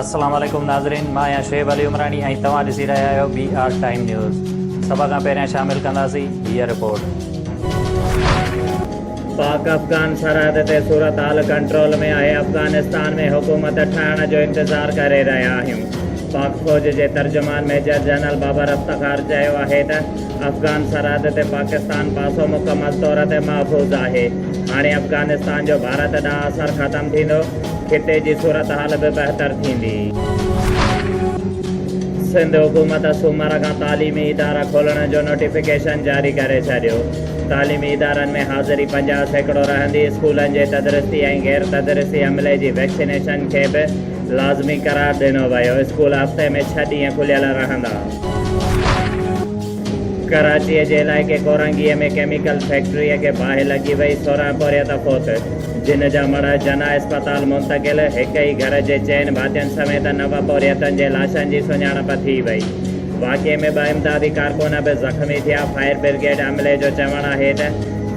السلام عليڪم ناظرين مان آهيان شعيب علي عمراڻي ۽ توهان ڏسي رهيا آهيو بي آر ٽائيم نيوز سڀ کان پهريان شامل ڪنداسين هيء رپورٽ پاڪ افغان سرحد تي صورتحال ڪنٽرول ۾ آهي افغانستان ۾ حڪومت ٺهڻ جو انتظار ڪري رهيا آهيون پاڪ فوج جي ترجمان ميجر جنرل بابر افتخار چيو آهي ته افغان سرحد تي پاڪستان پاسو مڪمل طور تي محفوظ آهي، هاڻي افغانستان جو ڀارت ڏانهن اثر ختم ٿيندو، خطي جي صورتحال به بهتر ٿيندي. سنڌ حڪومت سومر کان تعليمي ادارا کولڻ جو نوٽيفڪيشن جاري ڪري ڇڏيو، تعليمي ادارن ۾ حاضري پنجاهه سيڪڙو رهندي، اسڪولن جي تدريسي ۽ غير تدريسي عملي جي ويڪسينيشن کي به لازمي قرار ڏنو ويو، اسڪول هفتي ۾ ڇهه ڏينهن کليل رهندا. ڪراچيء جي علائقي ڪورنگيء ۾ ڪيميڪل فيڪٽريء کي باهه لڳي وئي، سورهن پورهيت فوت، جن جا مڙهه جناح اسپتال منتقل، هڪ ئي گهر جي چئن ڀاتين سميت نو پورهيتن جي لاشن جي سڃاڻپ ٿي وئي. واقعي ۾ ٻه امدادي ڪارڪن به زخمي ٿيا، فائر برگيڊ عملي جو چوڻ آهي ته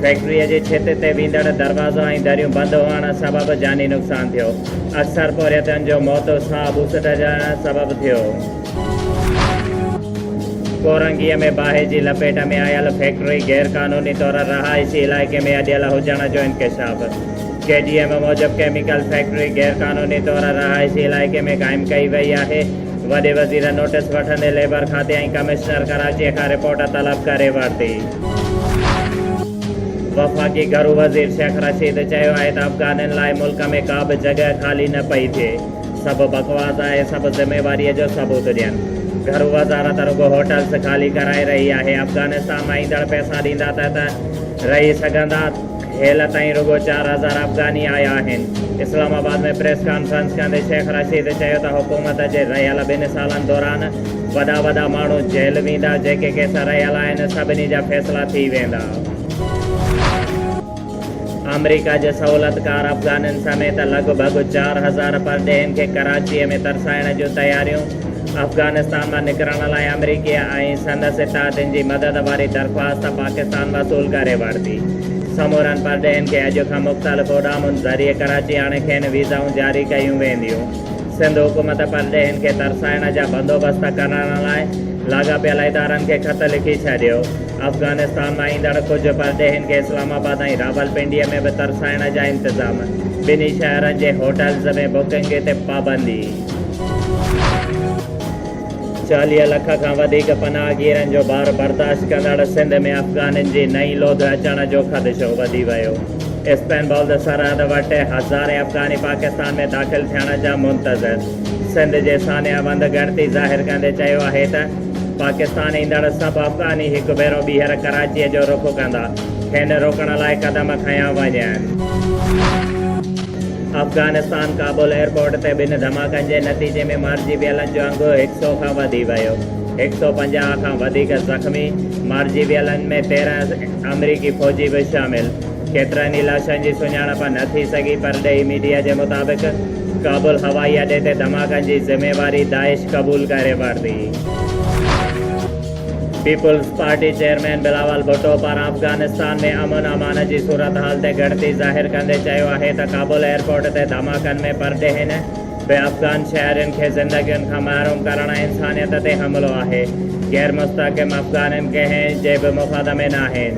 فيڪٽريء جي ڇت تي ويندڙ دروازا ۽ دريون بند هئڻ سبب جاني نقصان ٿيو، اڪثر پورهيتن جو موت ساهه ٻوسٽجڻ سبب ٿيو. ڪورنگيء ۾ باهه جي لپيٽ ۾ آيل فيڪٽري غير قانوني طور رهائشي علائقي ۾ اڏيل هجڻ جو انڪشاف ڪي ڊي ايم موجب ڪيميڪل فيڪٽري غير قانوني طور رهائشي علائقي ۾ قائم ڪئي وئي آهي وڏي وزير نوٽس وٺندي ليبر کاتي ۽ ڪمشنر ڪراچي کان رپورٽ طلب ڪري ورتي وفاقي گهرو وزير شيخ رشيد چيو آهي ته افغانين لاء ملڪ ۾ ڪا به جڳهه خالي نه پئي ٿئي سڀ بڪواس آهي سڀ ذميواري جو ثبوت ڏين گهرو وزارت رڳو هوٽلس خالي ڪرائي رهي آهي افغانستان مان ايندڙ پئسا ڏيندا ته ته رهي سگهندا هيل تائين رڳو چار هزار افغاني آيا آهن اسلام آباد ۾ پريس ڪانفرنس ڪندي شيخ رشيد چيو ته حڪومت جي رهيل ٻن سالن دوران وڏا وڏا ماڻهو جيل ويندا جيڪي ڪيس رهيل آهن سڀني جا فيصلا ٿي ويندا. آمريڪا جي سهولتڪار افغانين سميت لڳ ڀڳ چار هزار پرڏيهين کي ڪراچيء ۾ ترسائڻ جون تياريون، افغانستان مان نڪرڻ لاء آمريڪي آئين سندس اتحادين جي مدد واري درخواست پاڪستان وصول ڪري ورتي. سمورن پرڏيهين کي اڄ کان مختلف اڏامن ذريعي ڪراچي آڻي کين ويزائون جاري ڪيون وينديون. سنڌ حڪومت پرڏيهين کي ترسائڻ جا بندوبست ڪرڻ لاء لاڳاپيل ادارن کي خط لکي ڇڏيو. افغانستان مان ايندڙ ڪجهه پرڏيهين کي اسلام آباد ۽ راولپنڊيء ۾ به ترسائڻ جا انتظام، ٻنهي شهرن جي هوٽلز ۾ بڪنگ تي پابندي. چاليهه لک کان وڌيڪ پناهگيرن جو بار برداشت ڪندڙ سنڌ ۾ افغانين جي نئين لوڌ اچڻ جو خدشو وڌي ويو، اسپين بولد سرحد وٽ هزارين افغاني پاڪستان ۾ داخل ٿيڻ جا منتظر، سنڌ جي سانحه وند ڳڻتي ظاهر ڪندي چيو آهي ته. پاڪستان ايندڙ سڀ افغاني هڪ ڀيرو ٻيهر ڪراچيء جو رخ ڪندا، کين روڪڻ لاء قدم کنيا وڃن. افغانستان ڪابل ايئرپورٽ تي ٻن ڌماڪن جي نتيجي ۾ مارجي ويلن جو انگ هڪ سئو کان وڌي ويو، هڪ سئو پنجاهه کان وڌيڪ زخمي، مارجي ويلن ۾ تيرهن آمريڪي فوجي به شامل، ڪيترن ئي لاشن جي سڃاڻپ نه ٿي سگهي، پرڏيهي ميڊيا جي مطابق، ڪابل هوائي اڏي تي ڌماڪن جي ذميواري داعش قبول ڪري ورتي. Peoples party chairman Bilawal Bhutto پاران افغانستان ۾ امن امان جي صورتحال تي ڳڻتي ظاهر ڪندي چيو آهي ته ڪابل ايئرپورٽ تي ڌماڪن ۾ پرڏيهين به افغان شهرين کي زندگين کان محروم ڪرڻ انسانيت تي حملو آهي، غيرمستحڪم افغانين ڪنهن جي به مفاد ۾ ناهن.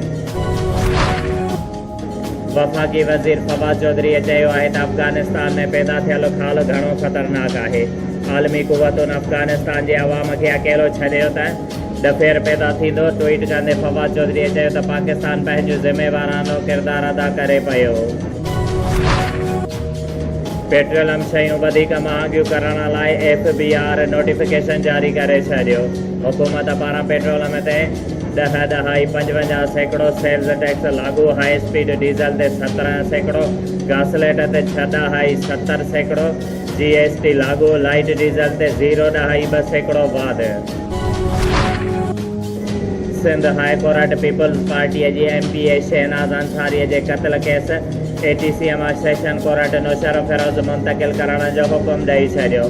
وفاقي وزير فواد چوڌريء چيو آهي ته افغانستان ۾ پيدا ٿيل خال گهڻو خطرناڪ آهي، عالمي قوتن افغانستان جي عوام کي اڪيلو ڇڏيو ته ڏڦير پيدا ٿيندو، ٽوئيٽ ڪندي فواد چوڌريء چيو ته پاڪستان پنهنجو ذميوارانو ڪردار ادا ڪري پيو. پيٽروليم شيون وڌيڪ مهانگيون ڪرڻ لاء ايف بي آر نوٽيفڪيشن جاري ڪري ڇڏيو، حڪومت پاران پيٽروليم تي ڏهه ڏهائي پنجونجاهه سيڪڙو سيلز ٽيڪس لاڳو هاء اسپيڊ ڊيزل تي سترهن سيڪڙو گاسليٽ تي ڇهه ڏهائي ستر سيڪڙو جي ايس ٽي لاڳو لائيٽ ڊيزل تي زيرو ڏهائي ٻه سيڪڙو واڌ Sindh high court peoples party جي M P A Shahnaz Ansari جي قتل ڪيس اي ٽي سي مان سيشن ڪورٽ نوشهروفيروز منتقل ڪرڻ جو حڪم ڏئي ڇڏيو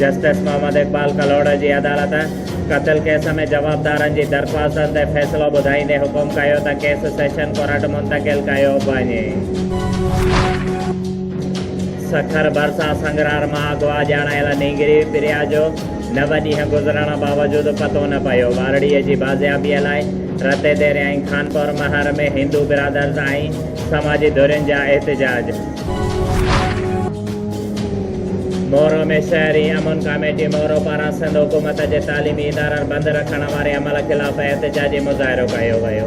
جسٽس محمد اقبال ڪلهوڙو جي عدالت قتل ڪيس ۾ جوابدارن جي درخواستن تي فيصلو ٻڌائيندي حڪم ڪيو ته ڪيس سيشن ڪورٽ منتقل ڪيو وڃي. سکر ڀرسان سنگرار مان اغوا ڄاڻايل نينگري پريا جو نو ڏينهن گذرڻ باوجود پتو نه پيو، ٻارڙي جي بازيابي لاء رتيديري ۽ خانپور مهر ۾ هندو برادرز ۽ سماجي ڌرين جا احتجاج. مورو ۾ شهري امن ڪاميٽي مورو پاران سنڌ حڪومت جي تعليمي ادارن بند رکڻ واري عمل خلاف احتجاجي مظاهرو ڪيو ويو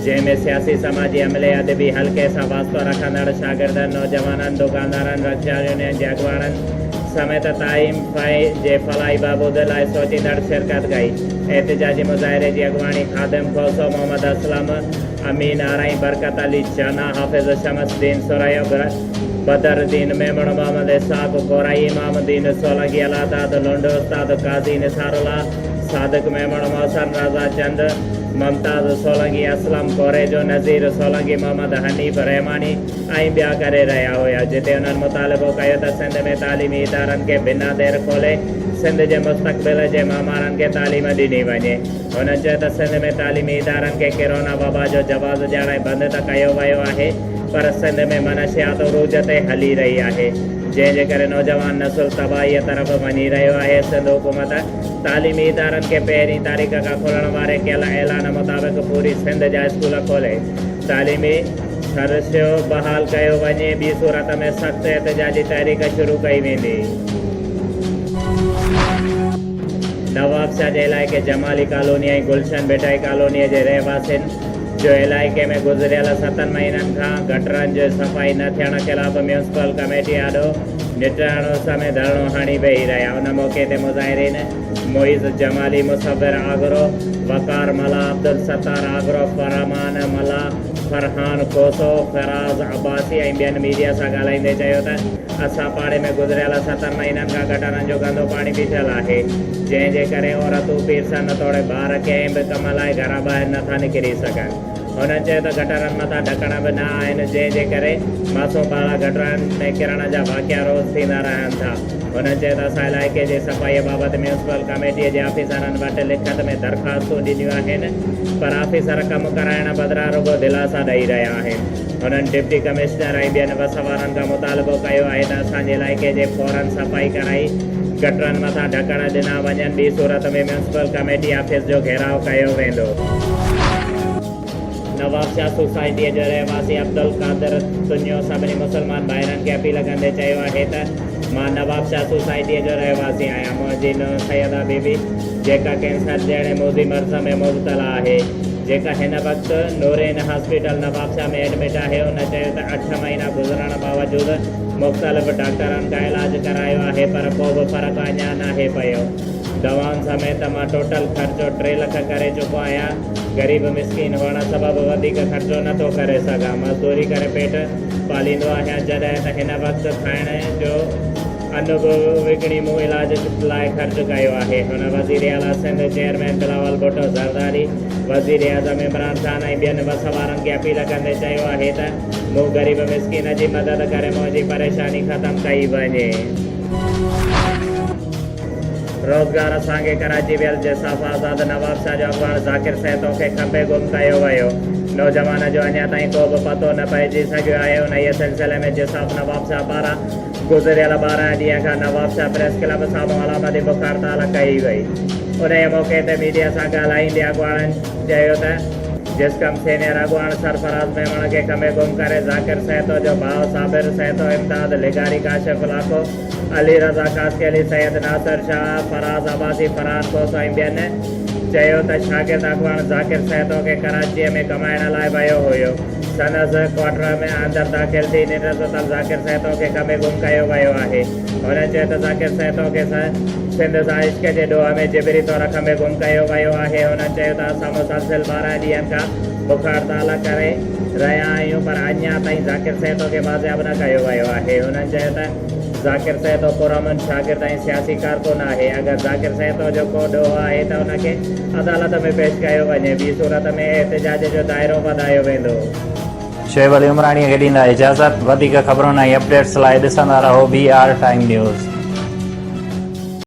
جنهن ۾ سياسي سماجي عملي ادبي حلقي سان واسطو رکندڙ شاگردن نوجوانن دوڪاندارن رڪشا يونين جي اڳواڻن سميت تعيم فائي جي فلاحي بهبود لاء سوچيندڙ شرڪت ڪئي احتجاجي مظاهري جي اڳواڻي خادم کوسو محمد اسلم امين آرائين، برڪت علي چنا، حافظ شمس الدين ثريا، بدر الدين ميمڻ، محمد اسحاق ڪورائي، امام الدين سولنگي، الله داد لنڊ، استاد قاضي نثار الله، صادق ميمڻ، محسن رضا چند، ممتاز سولنگي، اسلم ڪوريجو، نذير سولنگي، محمد حنيف رحماڻي ۽ ٻيا ڪري رهيا هيا جتي انهن مطالبو ڪيو ته سنڌ ۾ تعليمي ادارن کي بنا دير کولي سنڌ جي مستقبل جي معمارن کي تعليم ڏني وڃي. هن چيو ته سنڌ ۾ تعليمي ادارن کي ڪيرونا وبا جو جواز ڏيارائي بند ته ڪيو ويو آهي پر سنڌ ۾ منشيات عروج تي هلي رهي آهي جنهن جي ڪري نوجوان نسل تباهي طرف وڃي رهيو آهي سنڌ حڪومت تعليمي ادارن کي پهرين تاريخ کان کولڻ واري ڪيل اعلان مطابق پوري سنڌ جا اسڪول کولي تعليمي سرشيو بحال ڪيو وڃي ٻي صورت ۾ سخت احتجاجي تحريڪ شروع ڪئي ويندي. نوابشاهه جي علائقي جمالي ڪالوني ۽ گلشن ڀٽائي ڪالوني جي رهواسين جو علائقي ۾ گذريل ستن مهينن کان گٽرن جي صفائي نه ٿيڻ خلاف ميونسپل ڪميٽي آڏو نٽهڻ عرصه ۾ ڌرڻو هڻي ويهي رهيا ان موقعي تي مظاهرين معيز جمالي مصور آگرو وقار ملاح عبدالستار آگرو فرمان ملاح فرحان کوسو فراز عباسي ۽ ٻين ميڊيا سان ڳالهائيندي چيو ته اسان پاڙي ۾ گذريل ستن مهينن کان گٽرن جو گندو پاڻي بيٺل آهي، جنهن جي ڪري عورتون، پيرسن توڙي ٻار ڪنهن به ڪم لاء گهران ٻاهر نه ٿا نڪري سگهن. هنن چيو ته گٽرن مٿان ڍڪڻ به نه آهن، جنهن جي ڪري معصوم ٻارڙا گٽرن ۾ ڪرڻ جا واقعا روز ٿيندا رهن ٿا. هنن چيو ته اسان علائقي جي صفائي بابت ميونسپل ڪميٽي جي آفيسرن وٽ لکت ۾ درخواستون ڏنيون آهن، پر آفيسر ڪم ڪرائڻ بدران رڳو دلاسا ڏئي رهيا آهن. هنن ڊپٽي ڪمشنر ۽ ٻين وس وارن کان مطالبو ڪيو آهي ته اسان جي علائقي جي فورن صفائي ڪرائي گٽرن مٿان ڍڪڻ ڏنا وڃن ٻي صورت ۾ ميونسپل ڪميٽي آفيس جو گهيراء ڪيو ويندو. نوابشاهه سوسائٽيء جو رهواسي عبدالقادر تنيو سڀني مسلمان ڀائرن کي اپيل ڪندي چيو آهي ته. مان نوابشاهه سوسائٽيء جو رهواسي آهيان. منهنجي نونهن سيده بي بي، جيڪا ڪينسر جهڙي موذي مرض ۾ مبتلا آهي، جيڪا هن وقت نورين هاسپيٽل نوابشاهه ۾ ايڊمٽ آهي، ان چيو ته اٺ مهينا گذرڻ باوجود مختلف ڊاڪٽرن کان علاج ڪرايو آهي پر ڪو به فرق اڃا ناهي پيو. دوائن سميت مان ٽوٽل خرچو ٽي لک ڪري چڪو آهيان. غريب مسڪين هئڻ سبب وڌيڪ خرچو نه ٿو ڪري سگهان. مزدوري ڪري پيٽ. پاليندو آهيان جڏهن ته هن وقت کائڻ جو ان به وڪڻي مون علاج لاء خرچ ڪيو آهي هن وزير اعليٰ سنڌ چيئرمين بلاول ڀٽو زرداري وزير اعظم عمران خان ۽ ٻين وس وارن کي اپيل ڪندي چيو آهي ته مون غريب مسڪين جي مدد ڪري منهنجي پريشاني ختم ڪئي وڃي. روزگار اسان کي ڪراچي ويل جساف آزاد نوابشاھ جو اڳواڻ ذاڪر سهتو کي کنڀي گم ڪيو ويو نوجوان جو اڃا تائين ڪو به پتو نه پئجي سگهيو آهي انهيء سلسلي ۾ جساف نوابشاھ پاران گذريل ٻارهن ڏينهن کان نوابشاھ پريس ڪلب سامهون علامتي بک هڙتال ڪئي وئي انهيء موقعي تي ميڊيا سان ڳالهائيندي اڳواڻن چيو ته جسقم سينيئر اڳواڻ سرفراز ميمڻ کي کنڀي گم ڪري ذاڪر سهتو جو ڀاء صابر سهتو امداد لغاري ڪاشف لاکو. علي رضا قاسي علي سيد ناصر شاهه فراز عباسي فرحان کوسو ۽ ٻين چيو ته شاگرد اڳواڻ ذاڪر سهتو کي ڪراچيء ۾ ڪمائڻ لاء ويو هيو سندس ڪوارٽر ۾ اندر داخل ٿي ننڊرسوتل ذاڪر سهتو کي ڪمي گم ڪيو ويو آهي هن چيو ته ذاڪر سهتو کي سنڌ سان عشق جي ڏوهه ۾ جبري طور ڪمي گم ڪيو ويو آهي هن چيو ته اسان مسلسل ٻارهن ڏينهن کان بک هڙتال ڪري رهيا آهيون پر اڃا تائين ذاڪر سهتو کي بازياب نه ڪيو ويو آهي. هنن چيو ته ذاڪر سهتو پرامن شاگرد ۽ سياسي ڪارڪن آهي، اگر ذاڪر سهتو جو ڪو ڏوهه آهي ته ان کي عدالت ۾ پيش ڪيو وڃي، ٻي صورت ۾ احتجاج جو دائرو وڌايو ويندو. شعيب علي عمراڻيء کي ڏيندا اجازت. وڌيڪ خبرن ۽ اپڊيٽس لاء ڏسندا رهو بي آر ٽائيم نيوز.